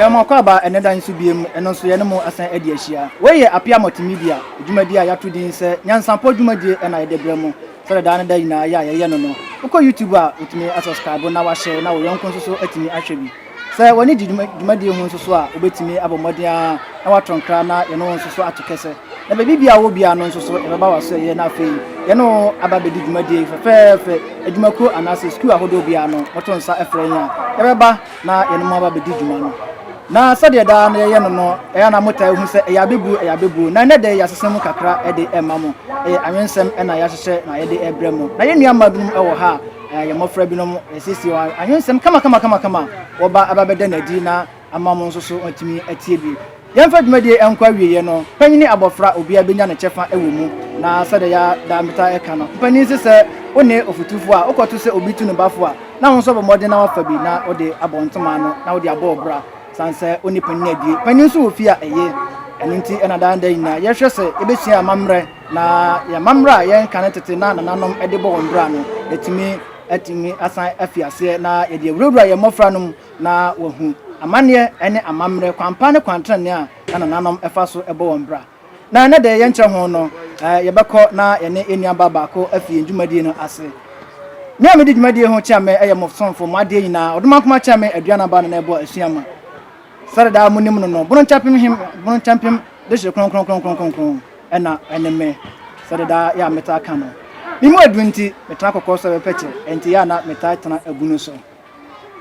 Yɛn mɔkɔ aba ɛnɛ da nso biem, ɛno nso yɛne mo asan adi ahyia. Wei yɛ Apia Multimedia, dwumadie a yɛato din sɛ Nyansapɔ dwumadie na yɛde brɛ mo sɛdeɛ daa ne da nyinaa yɛ a yɛyɛ no no. Wokɔ YouTube a, wotumi asubscribe na wahyɛ na wo yɔnko nso so atumi ahwɛ bi. Sɛ wɔne di dwumadie ho nso so a, wobɛtumi abɔ mmɔden ara na woatɔ nkra na yɛne wo nso so ato kɛsɛ. Na baabi biara a wowɔ biara no nso so, yɛbɛba w'asoɛeɛ na afei yɛne wo aba abɛdi dwumadie yi fɛfɛɛfɛ. Adwumakuo anaasɛ sukuu ahodoɔ biara no, moto nsa frɛ yɛn a, yɛbɛba na yɛne mo aba abɛdi dwuma no. Na sɛdeɛ daa no yɛyɛ no no, ɛyɛ a na motaa hu sɛ ɛyɛ abɛbuo, ɛyɛ abɛbuo. Na ɛnnɛ de, yɛasesa mu kakra de rema mo. Ɛyɛ anwensɛm na yɛahyehyɛ na yɛde rebrɛ mo. Na yɛn nnuammaa binom wɔ ha a, Yɛn mmofra binom resiesie wɔn anwensɛm kamakamakama a wɔba abɛda no adi na ama wɔn nso so wɔatumi atie bi. Yɛmfa dwumadi yi nkɔ awieeɛ no, panyin ne abɔfra, obiara bɛnya ne kyɛfa wɔ mu. Na sɛdeɛ yɛadaa metaa ka no, mpanin se sɛ wo ne ɔfotufoɔ a wokɔto sɛ obi tu ne ba fo a, na wo nso abɔ mmɔden na woafa bi na wode abɔ ntoma ano na wode abɔ wo bra sane sɛ wo ne panyin abue. Panyin nso wɔ fie a ɛye. Ɛno nti na daa da nyinaa yɛhwɛ sɛ yɛbɛsua amammerɛ. Na yɛn amammerɛ a yɛnka ne tete na nananom de bɔ wɔn bra no, yɛatumi atumi asan afi aseɛ na yɛde awurawura yɛn mmɔfra no mu na wɔahu amanneɛ ne amammerɛ, kwanpa ne kwantenenee a na nananom fa so bɔ wɔn bra. Na ɛnnɛ deɛ yɛnkyerɛ ho no, yɛbɛkɔ na yɛne yɛn nuabaa baako afi yɛn dwumadie no ase. Me a medi dwumadie ho Kyeame yɛ mo somfo, mo adeɛ nyinaa, Ɔdomankoma Kyeame Aduanaba na na ɛbɔ asua ma. Sɛde daa monim no no, boronkyɛmpem he boronkyɛmpem de hye kronkronkronkronkron ɛna ɛne me, sɛde daa yɛ a metaa ka no. Me mu aduru nti, metena kɔkɔɔ so bɛpɛ kyɛ, ɛnti yɛ a na metaa tena abunu so.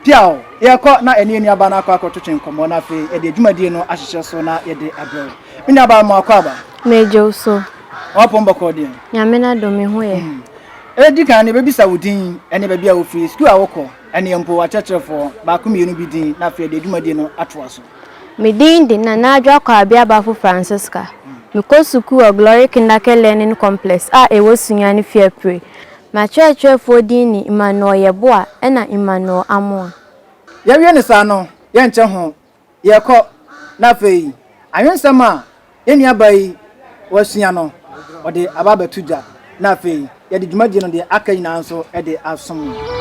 Piaw! Yɛɛkɔ na ɛne yɛ nuabaa no akɔ akɔtwetwe nkɔmmɔ na afei yɛde adwumadie no ahyehyɛ so na yɛde abrɛ wo. Me nuabaa, mo akɔ aba? Megye wo so. W'apɔn bɔkɔɔ deɛ? Nyame n'adom, me ho yɛ. Edi kan no, yɛbɛbisa wo din, ɛne baabi a wofiri, sukuu a wokɔ. Ɛnneɛ mpo akyerɛkyerɛfoɔ, baako mmienu bi din na afei yɛde dwumadie no atoa so. Me din de Nana Adwoa Kwaabi Abafo Francisca. Mekɔ sukuu wɔ Glory Kindercare Learning Complex a ɛwɔ Sunyani Fiapre. M'akyerɛkyerɛfoɔ din ne Emmanuel Yeboah ɛna Emmanuel Amoah. Yɛwie no saa no, yɛnkyɛ ho Yɛkɔ, na afei anwensɛm a yɛn nuabaa yi wasua no, ɔde aba abɛto dwa, na afei yɛde dwumadie no deɛ aka nyinaa nso de asom no.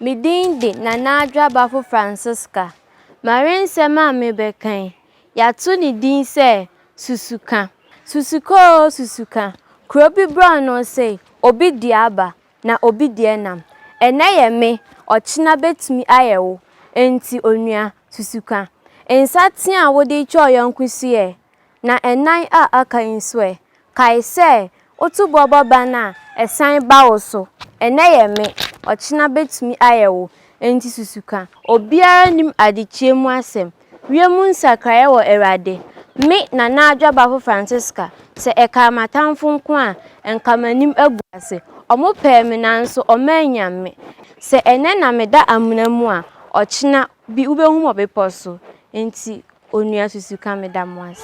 Me din de Nana Adwoabafo Francisca. M'awensɛm a mebɛka yi, yɛato ne din sɛ Susuka. Susuka oo susuka, kuro bi borɔnoo sei, obi dua aba, na obi deɛ nam. Ɛnnɛ yɛ me, ɔkyena bɛtumi ayɛ wo, enti onua, susu ka. Nsateaa a wode retwa wo yɔnko su ɛ? Na ɛnan a aka yi nso ɛ? Kae sɛ, woto boɔ bɔ ban a, ɛsan ba wo so. Ɛnnɛ yɛ me, ɔkyena bɛtumi ayɛ wo, enti susu ka. Obiara nnim adekyeɛ mu asɛm. Wiemu nsakraeɛ wɔ Awurade. Me Nana Adwo Abafo Francisca, sɛ ɛkaa m'atamfo nko a, nka m'anim agu ase. Wɔpɛɛ me nanso wɔannya me. Sɛ ɛnnɛ na meda amena mu a, ɔkyena bi wobɛhu me wɔ bepɔ so. Enti Onua Susuka, meda mo ase.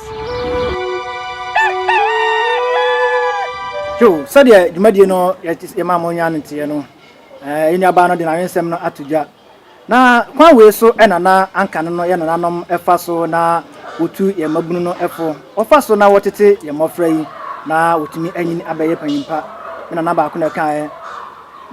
Hugh, sɛdeɛ dwumadie no yɛmaa mo nyaa no teeɛ no, yɛn nuabaa no de n'awensɛm no ato dwa Na kwan wei so na na anka no no yɛn nananom fa so na wɔtu yɛn mmabunu no fo. Wɔfa so na wɔtete yɛn mmɔfra yi na wɔtumi anyini abɛyɛ panyin pa. Me nana baako na ɛkaeɛ.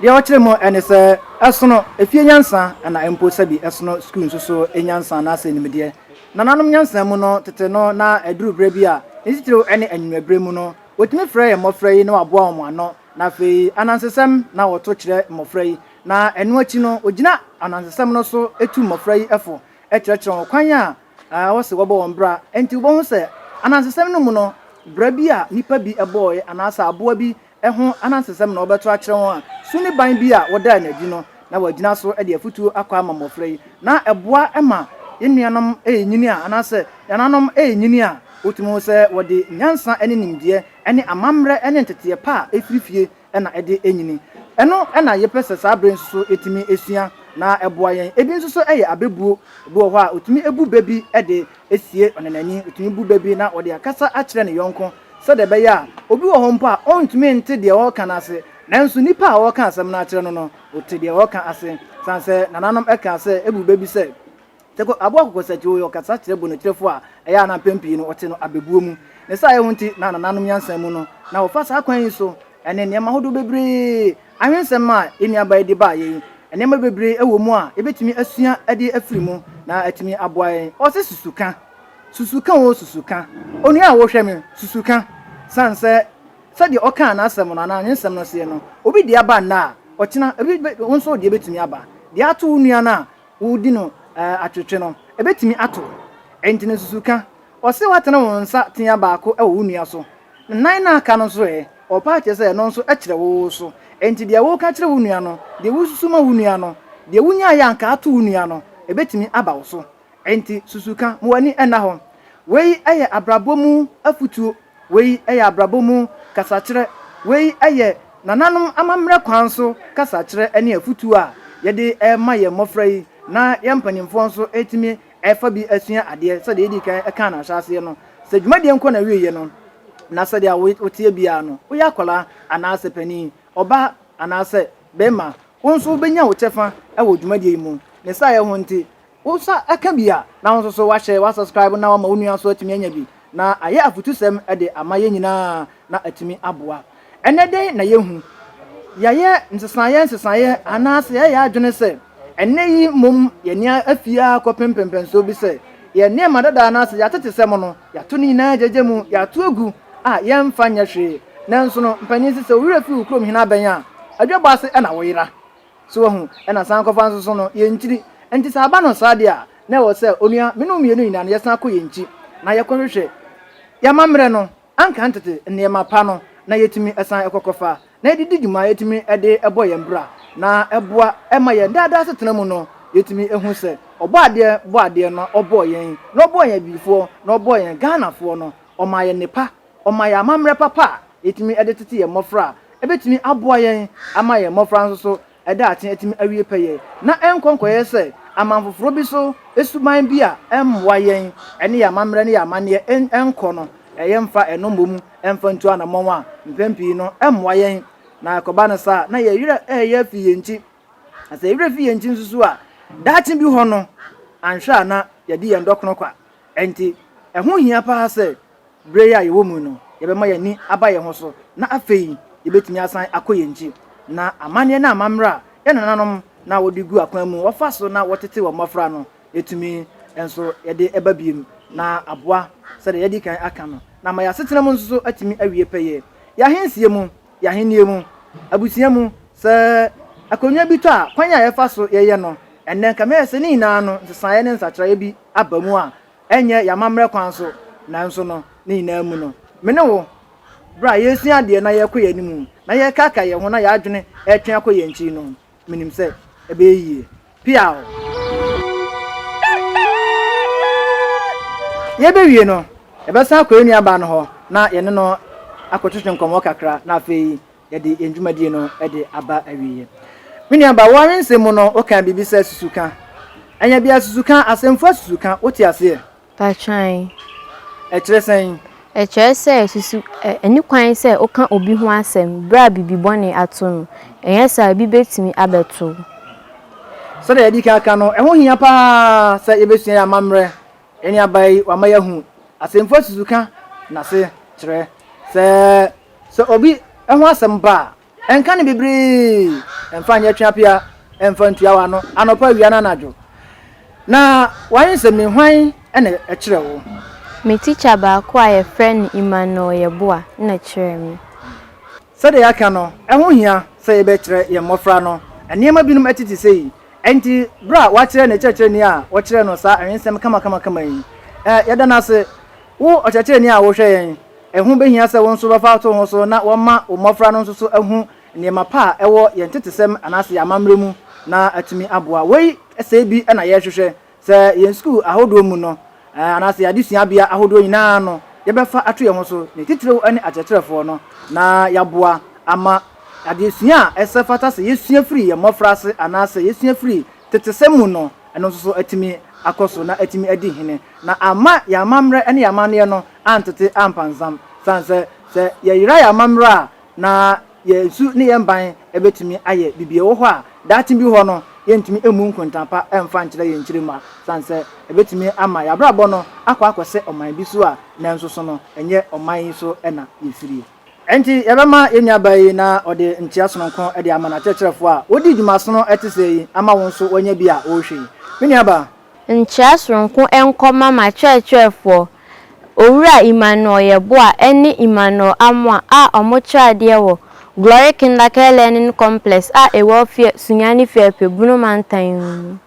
Deɛ ɔkyerɛ mu ne sɛ, ɛsono efie nyansa na mpo sɛbi ɛsono sukuu nso so nyansa anaasɛ nimdeɛ. Nananom nyansa mu no, tete no na ɛduru berɛ bi a, ne titiriw ne anwummerɛ berɛ mu no, wɔtumi frɛ yɛn mmɔfra yi na wɔaboa wɔn ano. Na afei, anansesɛm na wɔto kyerɛ mmɔfra yi. Na ɛno akyi no, ogyina anansesɛm no so tu mmofra yi fo kyerɛkyerɛ wɔn kwan a ɛwɔ sɛ wɔbɔ wɔn bra. Enti wubehu sɛ anansesɛm no mu no, bra bi a nnipa bi bɔe anaasɛ aboa bi ho anansesɛm na wɔbɛto akyerɛ wɔn a su ne ban bi a wɔdaa no adi no na wɔagyina so de afotu akɔ ama mmofra yi. Na ɛboa ma yɛn nuanom nyini a anaasɛ yɛn nananom nyini a wotumi hu sɛ wɔde nyansa ne nimdeɛ ne amammerɛ ne nteteɛ pa a efiri fie na ɛde anyini. Ɛno na yɛpɛ sɛ saa bere nso so yɛtumi sua na ɛboa yɛn. Ebi nso so yɛ abɛbuo. Ebi wɔ hɔ a, wɔtumi bu bɛ bi de asie ɔnanani. Wɔtumi bu bɛ bi na ɔde akasa akyerɛ ne yɔnko sɛdeɛ ɛbɛyɛ a obi wɔ hɔ mpo a ɔntumi nte deɛ ɔreka no ase, nanso nnipa a ɔreka asɛm no akyerɛ no no, ɔte deɛ ɔreka ase. Ɛsiane sɛ nananom kaa sɛ bu bɛ bi sɛ. Teko Aboah Kokosatwio yɛ ɔkasa kyerɛwbo ne kyerɛwfo a ɛyɛ a na mpɛn pii no wɔte no abebuo mu. Ne saa yɛ ho nti na nananom nyansa mu no na wɔfa saa kwan yi so ne nneɛma ahodoɔ bebree awe nsɛm a yɛn nuabaa yi de baeɛ yi. Nneɛma bebree wɔ mu a yɛbɛtumi asua de afiri mu na atumi aboa yɛn. Ɔse susu ka, susu ka oo susu ka, onua a wohwɛ me, susu ka. Sane sɛ sɛdeɛ ɔkaa n'asɛm no anaa nwensɛm no seɛ no, obi deɛ aba nnɛ a, ɔkyena ebi bɛ, wo nso wo deɛ bɛtumi aba. Deɛ ato wo nua no a, wodi no atwetwe no, ebetumi ato. Eyi nti no, susuw ka. Ɔse woatene wo nsa tea baako wɔ wo nua so. Nnan no a aka no nso ɛ? Ɔpa akyɛ sɛ ɛno nso kyerɛ wo so. Enti deɛ woka kyerɛ wo nua no, deɛ wosusu ma wo nua no, deɛ wonyaeɛ a anka ato wo nua no, ebetumi aba wo so. Enti susuw ka ma w'ani nna hɔ. Wei yɛ abrabɔ mu afotuo. Wei yɛ abrabɔ mu kasakyerɛ. Wei yɛ nananom amammerɛ kwan so kasakyerɛ ne afotuo a yɛde rema yɛn mmɔfra yi na yɛn mpanimfoɔ nso atumi afa bi asua adeɛ. Sɛdeɛ yɛdii kan kaa no ahyɛaseɛ no, sɛ dwumadie nkɔ n'awieeɛ no, na sɛdeɛ a woteɛ biara no, woyɛ akwadaa anaasɛ panin, ɔbaa anaasɛ barima, wo nso wobɛnya wo kyɛfa wɔ dwumadie yi mu. Ne saa yɛ ho nti, Wo nsa ka bi a, na wo nso so woahyɛ, woasubscribe na woama wo nua nso atumi anya bi, na ayɛ afotusɛm de ama yɛn nyinaa na atumi aboa. Ɛnnɛ dɛn na yɛahu? Yɛayɛ nsesaeɛ nsesaeɛ anaasɛ yɛayɛ yɛn adwene sɛ ɛnnɛ yi mmom yɛn ani afi ara kɔpem mpɛmpɛnsoɔ bi sɛ yɛn nneɛma dada anaasɛ yɛatete sɛm no, yɛato ne nyinaa gyagya mu, yɛato agu a yɛmfa nyɛ hwee. Nanso no, mpanin si sɛ wo werɛ fi wo kurom hene abɛn a, adwabɔ ase na woyera. So wahu? Ɛna san kɔfa nso so no, yɛn nkyiri. Enti sɛ aba no saa deɛ a, na ɛwɔ sɛ, onua, me ne wo mmienu nyinaa no, yɛsan kɔ yɛn nkyi, na yɛkɔhwehwɛ yɛn amammerɛ no, anka tete nneɛma pa no, na yɛtumi san kɔ kɔfa, na yɛde di dwuma, yɛtumi de bɔ yɛn bra, na ɛboa ma yɛn daa daa asetena mu no, yɛtumi hu sɛ, Ɔbɔ adeɛ bɔ adeɛ no, Ɔbɔɔ yɛn, na Ɔbɔɔ yɛn Abibifoɔ, na Ɔbɔɔ yɛn Ghanafoɔ no, Ɔmaa yɛn nnepa. Ɔma yɛn amammerɛ papa a yɛtumi de tete yɛn mmɔfra a ɛbɛtumi aboa yɛn ama yɛn mmɔfra nso so daakye atumi awie pɛyɛ na ɛnkɔ nkɔyɛ sɛ aman foforɔ bi so suban bi a ɛmmoa yɛn ne yɛn amammerɛ ne yɛn amanneɛ nkɔ no. Yɛmfa ɛno mmom mfa ntu anammɔn a mpɛn pii no ɛmmoa yɛn na ɛkɔba no saa a na yɛn werɛ reyɛ afi yɛn ti. Na sɛ yɛn werɛ fi yɛn ti nso so a, daakye bi hɔ no, anhwɛ a na yɛadi yɛn dɔ kono kwa. Enti ɛho hia paa sɛ Bere yi a yɛwɔ mu yi no, yɛbɛma yɛn ani aba yɛn ho so, na afei yebetumi asan akɔ yɛn nkyi. Ná amanneɛ ne amammerɛ a yɛn nananom na wɔde gu akwan mu, wɔfa so na wɔtete wɔn mmofra no, yetumi nso yɛde ba bio na aboa sɛnea yɛadi kan aka no, na ama yɛn asetena mu nso so atumi awie pɛyɛ. Yɛn ahensie mu, yɛn ahenni mu, abusua mu, sɛ akonnwa bi tɔ a, kwan a yɛfa so yɛyɛ no, ɛnnɛ nka mɛyɛ sɛ ne nyinaa no nsesaeɛ ne nsakyeraeɛ bi aba mu a, Ɛnyɛ y'amammerɛ kwan so, nanso no, ne nyinaa mu no, me ne wo, berɛ a yɛresua adeɛ na yɛrekɔ yɛn anim, na yɛrekaakae yɛn ho na yɛn adwene retwe akɔ yɛn akyi no, menim sɛ ɛbɛyɛ yie. Piaw! Yɛbɛwie no, yɛbɛsan akɔ yɛn nuabaa no hɔ na yɛne no akɔtwetwe nkɔmmɔ kakra, na afei yɛde yɛn dwumadie no de aba awieɛ. Me nuabaa, woawe nsɛm mu no, wokaa biribi sɛ susuka. Ɛnyɛ bia susuka, asɛmfua susuka, wote aseɛ? Patwan. Ɛkyerɛ sɛn? Ɛkyerɛ sɛ susu, ɛ, ɛne kwan sɛ woka obi ho asɛm berɛ a biribi bɔne ato no. Ɛnyɛ saa a, ebi bɛtumi abɛto wo. Sɛdeɛ yɛadi kan aka no, ɛho hia pa ara sɛ yɛbɛsua yɛn amammerɛ Nnuaba yi wama yɛahu asɛmfua susuka n'asekyerɛ. Sɛ sɛ obi ho asɛm ba a, ɛnka no bebree mfa nyɛ tweapea mfa ntua w'ano anɔpa, awia, ne anadwo. Na w'ayɛ nsɛmii hwan na ɛkyerɛ wo? Me tikya baako a yɛfrɛ no Emmanuel Yeboah na kyerɛɛ me. Sɛdeɛ yɛaka no, ɛho hia sɛ yɛbɛkyerɛ yɛn mmɔfra no nneɛma binom tete sei. Enti bere a wɔakyerɛ ne kyerɛkyerɛni a wɔkyerɛɛ no saa awensɛm kamakamakama yi, Ɛ, yɛda no ase, wo ɔkyerɛkyerɛni a wohwɛ yɛn, ɛho behia sɛ wo nso bɛfa ato wo ho so na wɔama wo mmofra no nso so ahu nneɛma pa a ɛwɔ yɛn ntetesɛm anaasɛ yɛn amammerɛ mu na atumi aboa. Wei sɛɛ bi na yɛrehwehwɛ. Sɛ yɛn sukuu ahodoɔ mu no, anaasɛ yɛn adesuabea ahodoɔ nyina ara no, yɛbɛfa ato yɛn ho so, ne titiriw ne akyerɛkyerɛfoɔ no, na yɛaboa ama adeɛsua a ɛsɛ fata sɛ yɛsua firi yɛn mmɔfraase anaasɛ yɛsua firi tetesɛm mu no, ɛno nso so atumi akɔ so na atumi adi hene, na amma yɛn amammerɛ ne yɛn amanneɛ no antete ampanzam, sane sɛ, sɛ yɛyera yɛn amammerɛ a, na yɛn nsu ne yɛn ban bɛtumi ayɛ biribi. Ɛwɔ hɔ a, daakye bi hɔ no, yɛrentumi mmu nkontaa pa mfa nkyerɛ yɛn kyiri mma, ɛsiane sɛ ɛbɛtumi ama yɛn abrabɔ no akɔ akɔsɛ ɔman bi so a nanso so no, ɛnyɛ ɔman yi so na yɛfirie. Enti, yɛbɛma yɛn nuabaa yi na ɔde nkyea sononko de ama n'akyerɛkyerɛfoɔ a wɔdii dwuma sono te sɛɛ yi ama wo nso woanya bi a worehwɛ yi. Me nuabaa. Nkyerɛ soronko nkɔma m'akyerɛkyerɛfoɔ, Owura Emmanuel Yeboah ne Emmanuel Amoah a wɔkyerɛ adeɛ wɔ Glory Kindercare Learning Complex a ɛwɔ Offieh, Sunyani Firepeh, Bono Mantan mu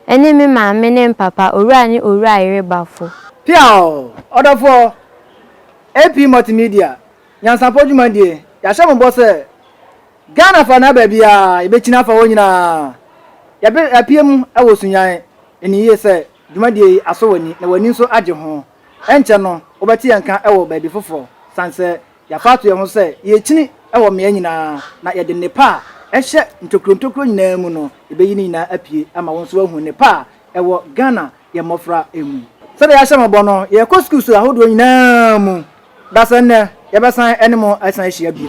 no, ne me maame ne me papa, Owura ne Owura Ayere Bafo. Piaww! Ɔdɔfoɔ, AP Multimedia, Nyansapɔ Dwumadie, yɛahyɛ mo bɔ sɛ. Ghana fa na baabi a yɛbɛkyini afa hɔ nyinaa, yɛapue mu wɔ Sunyani. Ɛnim yie sɛ dwumadie yi asɔ w'ani na w'ani nso agye ho. Ɛnkyɛ no wobɛte yɛn nka wɔ baabi foforɔ sane sɛ yɛafa ato yɛn ho sɛ yɛrekyini wɔ mmeaɛ nyinaa na yɛde nnepa a ɛhyɛ ntokuro ntokuro nyinaa mu no yɛbɛyi ne nyinaa apue ama wo nso woahu nnepa a ɛwɔ Ghana yɛn mmɔfra mu. Sɛdeɛ yɛahyɛ mo bɔ no, yɛrekɔ sukuu so ahodoɔ nyinaa mu Da sɛ nnɛ, yɛbɛsan ne mo asan ahyia bio.